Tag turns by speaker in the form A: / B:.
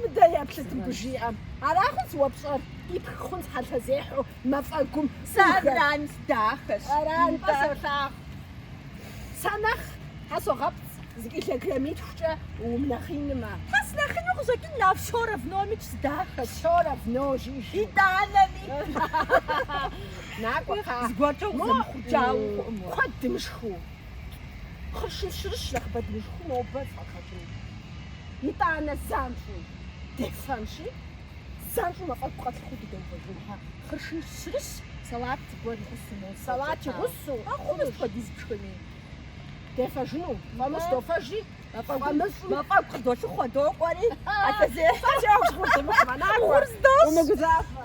A: Мыдэ
B: еплъыт мыбы жиӏэм. Ара хъунщ уэ пщӏэр, къипх хъунщ хьэлъэзехьэу мафӏэгум. Сэ
A: аран дахэщ. Аран фӏы
B: солъагъу. Сэ нэхъ тхьэ согъэпцӏ зы килограммитхукӏэ умынэхъинмэ. Тхьэ
A: сынэхъину къыщӏэкӏын а всё равномикӏ сыдахэщ. Всё
B: равно жиӏи. Итӏанэми. Накӏуэ кхъа.
A: Зыгуэркӏэ укъызэмыхъурджауэу хъуӏым уэ. Куэд дымышхыу.
B: Хъыршын щырыщ нэхъыбэ дымышхыу нобэ згъэхъэжын. Итӏанэ занщӏэу дефэнщи, занщӏэу мафӏэгу къэтлъыхъуэу дыдэувэжын. Хъыршын щырыщ, салат
A: гуэр игъусу мол. Салат игъусу
B: хъунущ хуэдиз
A: пшхыми.
B: Дефэжыну фӏамыщӏ дофэжи, фӏамыщӏым.
A: Мафӏэгу
B: къыдолъыхъуэ докӏуэри, хьэлъэзехьэ. Фӏэкӏа гъур дымыхъумэ,
A: накӏуэ,
B: умыгузавэ.